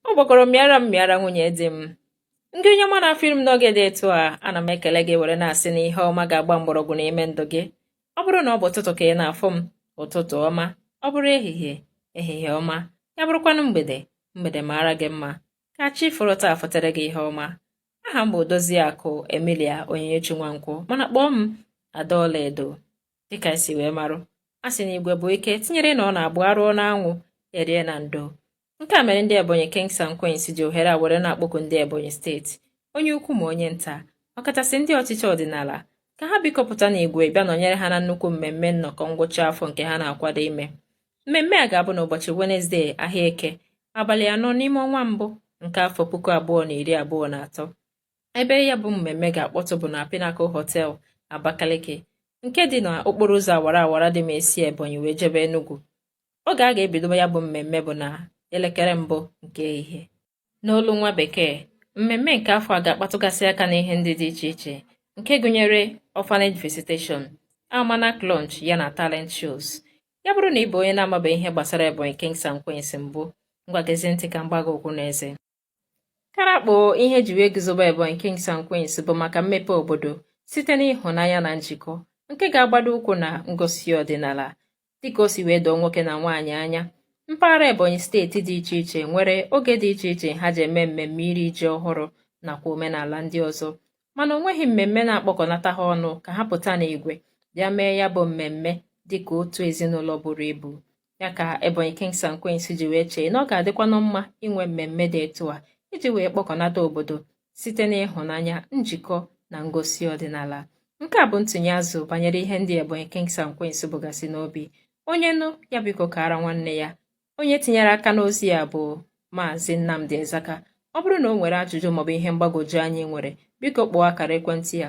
ọ gbakọrọ mịara mịara nwunye di m ngị onye ọma na-afụ m n'oge dị etu a ana m ekele gị were na-asị na ihe ọma ga-agba mgbọrọgwụ n'ime ndụ gị ọ bụrụ na ọ bụ ụtụtụ ka ị na-afụ m ụtụtụ ọma ọ bụrụ ehihie ehihie ọma ya bụrụkwanụ mgbede mgbede maara gị mma ka chi foro taa fotere gị ihe ọma aha m bụ Odoziakụ Emilia Onyinyechi Nwankwọ mana kpọọ m Ada Ọlaedo dịka e si wee marụ a sị na igwe bụ ike tinyere na ọ na-abụ a rụọ n'anwụ e rie na ndo nke a mere ndị ebonyi kings and queens ji ohere a were na-akpọku ndị ebonyi steeti onye ukwu ma onye nta ọkachasị ndị ọchịchị ọdịnala ka ha biko pụta n'igwe bịa nọnyere ha na nnukwu mmemme nnọkọ ngwụcha afọ nke ha na-akwado ime mmemme a ga-abụ n'ụbọchị wenezdee ahịa eke abalị anọ n'ime ọnwa mbụ nke afọ puku abụọ na iri abụọ na atọ ebe ya bụ mmemme ga-akpọtụ bụ na Pinnacle Hotel Abakaliki nke dị na okporo ụzọ awara awara dị ma e si Ebonyi wee jebe Enugu oge a ga-ebido ya bụ mmemme bụ na elekere mbụ nke ehihie n'olu nwa bekee mmemme nke afọ a ga-akpatụgasị aka n'ihe ndị dị iche iche nke gụnyere orphanage visitation almanac launch ya na talent shows ya bụrụ na ị bụ onye na-amabeghị ihe gbasara Ebonyi Kings and Queens mbụ ngwa gezie ntị ka m gbaa gị okwu n'eze Karakpo ihe e ji wee guzobe Ebonyi Kings and Queens bụ maka mmepe obodo site n'ịhụnanya na njikọ nke ga-agbado ụkwụ na ngosi ọdịnala dịka o si wee doo nwoke na nwaanyị anya mpaghara Ebonyi steeti dị iche iche nwere oge dị iche iche ha ji eme mmemme iri ji ọhụrụ nakwa omenala ndị ọzọ mana o nweghị mmemme na-akpọkọnata ha ọnụ ka ha pụta n'igwe bịa mee ya bụ mmemme dịka otu ezinụlọ buru ibu ya ka Ebonyi Kings and Queens ji wee chee na ọ ga-adịkwanụ mma inwe mmemme dị etu a iji wee kpọkọnata obodo site n'ịhụnanya njikọ na ngosi ọdịnala nke a bụ ntụnye azụ banyere ihe ndị Ebonyi Kings and Queens bugasị n'obi onye nụ ya biko kaara nwanne ya onye tinyere aka n'ozi a bụ Maazị Nnamdi Ezaka ọ bụrụ na o nwere ajụjụ maọbụ ihe mgbagwoju anya i nwere biko kpọọ akara ekwentị ya